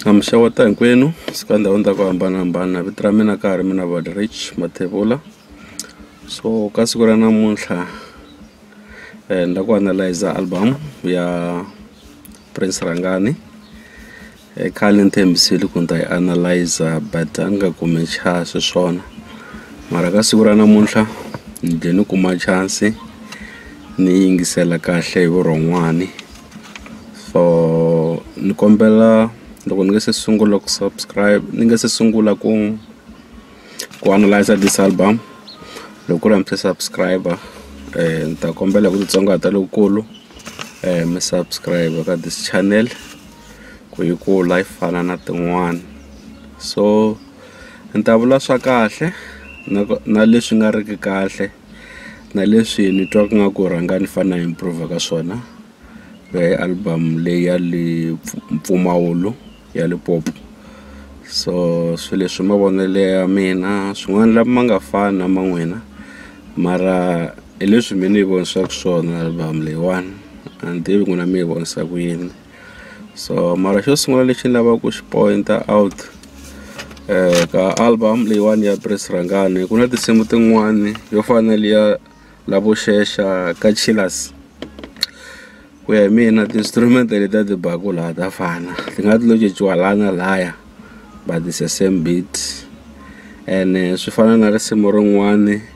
A mi xeweta hinkwenu suka ndhawini ta ku hambanahambana vito ra mina ka ha ri mina Rich Mathebula so ka siku ra namuntlha ni la ku analyser album ya Prince Rhangani i khale ni tshembisile ku ni ta yi analyser but a ni nga kumi chance xiswona mara ka siku ra namuntlha ni ze ni kuma chance ni yingisela kahle hi vurhon'wani. for ni kombela loko ni nga se sungula ku subscribe ni nga se sungula ku ku analyser this album loko ku ri a mi se subscribe ni ta kombela hi ku titsongahata lokukulu mi subscribe ka this channel ku yi kula yi fana na tin'wana so ni ta vula swa kahle na na leswi nga riki kahle. na leswi ni twa ku nga ku rhanga ni fane ni improv-a ka swona album leyi ya le mpfumawulo ya Limpopo so swi leswi mavonelo ya mina swin'wana la ma nga fani na ma n'wina mara hi leswi me ni yi vonisaka swona album leyiwani a ni tivi n'wina mi yi vonisa ku yini. so mara xo sungula lexi ni lavaka ku xi point out ka album leyiwani ya Prince Rhangani ku na tinsimu tin'wani yo fana na liya lavo xexa ka chillers ku ya hi mina ti-instrument letiya ti baku laha ta fana ti nga ti lo cinciwa laha na lahaya but it's the same beat ene swi fana na risimu rin'wani.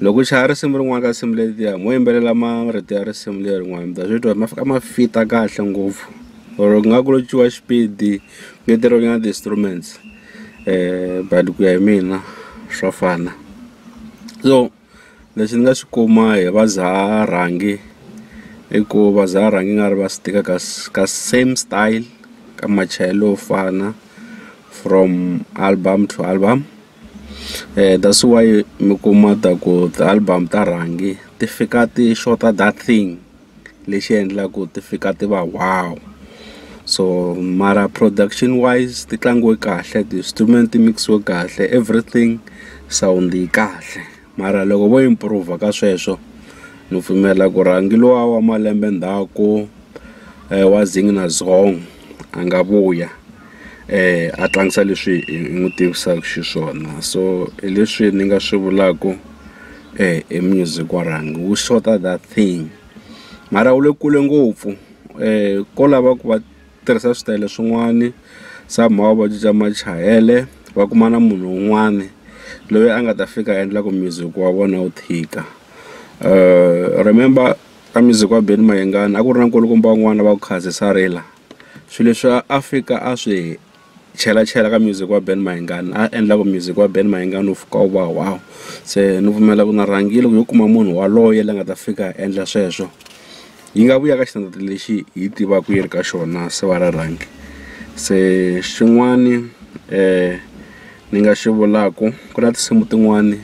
Loko u chaya risimu rin'wana ka tinsimu letiya mo yimbelela marito ya risimu leri n'wana mi ta swi twa ma fika ma fita kahle ngopfu or ku nga ku cinciwa xipidi ku ngeteriwa nyana ti-instruments but ku ya hi mina swa fana so lexi ni nga xi kuma hi va Zaa rhangi i ku va Zaa rhangi i nga ri va swi tika ka ka same style ka machayelo yo fana from album to album. that's why mi kuma ta ku ti-album ta rhangi ti fika ti xota that thing lexi endlaku ti fika ti va wow so mara production wise ti tlangiwe kahle ti-instrument ti mix-iwe kahle everything sound yi kahle. Mara loko vo improve ka sweswo ni pfumela ku rhangi luwa wa malembe ndzhaku wa Zing na Zong a nga vuya a tlangisa leswi hi n'wi tivisaka xiswona so hi leswi ni nga swi vulaku hi music wa rhangi wu xota that thing mara wu le kule ngopfu ko lava ku va. tirhisa switayele swin'wani somehow va cinca machayele va kuma na munhu un'wani loyi a nga ta fika a endla ku music wa vona wu tika remember ka music wa Benny Mayengani a ku ri na nkulukumba wun'wani va ku Khasi Sarila swi leswi a fika a swi. chela chela ka music wa Ben Mayengani a endla ku music wa Ben Mayengani wu fika wu va wow se ni pfumela ku na rhangile ku yo kuma munhu waloye la nga ta fika a endla sweswo yi nga vuya ka xitandati lexi hi tivaka yi ri ka xona se va ra rhangi se xin'wani um ni nga xi vulaku ku na tinsimu tin'wani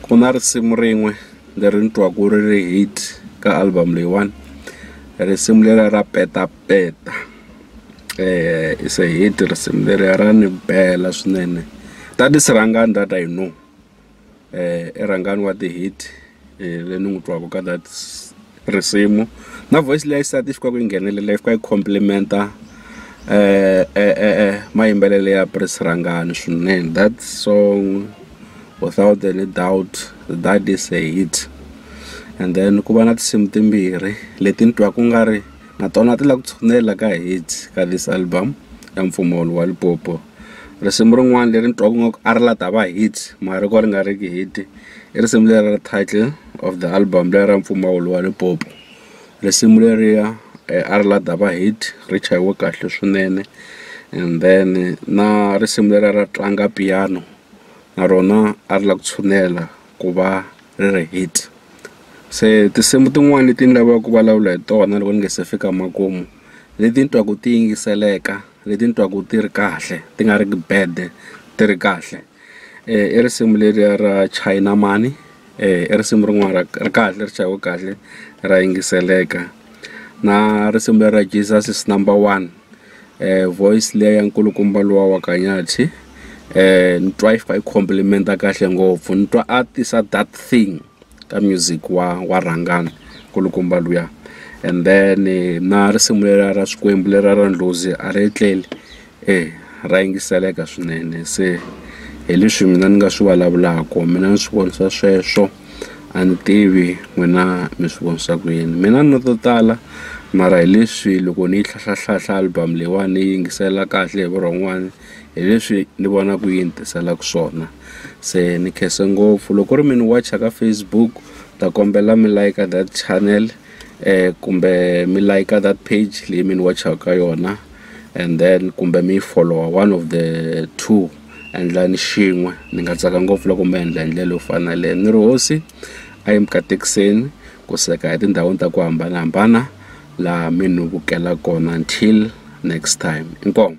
ku na risimu rin'we leri ni twaku ri ri hit ka album leyiwani risimu leriya ra petap. Peta se hi ti risimu leriya ra ni bela swinene ta ti Sirhangani that I know i Rhangani wa ti-hit le ni n'wi twaka ka that risimu na voice liya xisati xi kwaku yi nghenelela yi fika yi complimenter mayimbelelo ya Prince Rhangani swinene that song without any doubt that is a hit and then ku va na tinsimu timbirhi leti ni twaku nga ri. na tona ti la ku tshunela ka hit ka this album ya mpfumawulo wa Limpopo risimu rin'wana leri ni twaka nga ku a ri la ta va hit mara ri ko ri nga ri ki hit i risimu leri ra title of the album leri ra mpfumawulo wa Limpopo risimu leriya a ri la ta va hit ri chayiwe kahle swinene and then na risimu leriya ra tlanga piano na rona a ri la ku tshunela ku va ri ri hit se tinsimu tin'wani leti ni lavaka ku vulavula hi tona loko ni nga se fika makumu leti ni twaku ti yingiseleka leti ni twaku ti ri kahle ti nga ri ku bad ti ri kahle i risimu leriya ra China mhani i risimu rin'wana ra ri kahle ri chayiwe kahle ra yingiseleka na risimu leriya Jesus is number one. voice liya ya nkulukumba luwa wa Khanyathi ni twa yi fika yi compliment-a kahle ngopfu ni twa a tisa that thing ka music wa wa rhangana nkulukumba luya and then na risimu leriya ra Xikwembu leriya ra Ndlozi a ri etleli ra yingiseleka swinene se hi leswi mina ni nga swi vulavulaka mina ni swi vonisa sweswo. a ni tivi n'wina mi swi vonisa ku yini mina ni to tala mara hi leswi loko ni yi hlahla album leyiwani ni yi yingisela kahle hi vurhon'wani hi leswi ni vonaku yi ni tiselaku swona se ni khensa ngopfu loko ku ri mi ni wacha ka Facebook ni ta kombela mi like that channel kumbe mi like that page leyi mi ni wachaka ka yona and then kumbe mi yi follower one of the two. endlani xin'we ni nga tsaka ngopfu loko mi endla hi ndlela yo fana na yaleyo ni ri hosi a yi mi katekiseni ku seka etindhawini ta ku hambanahambana laha mi ni vukela kona until next time inkomu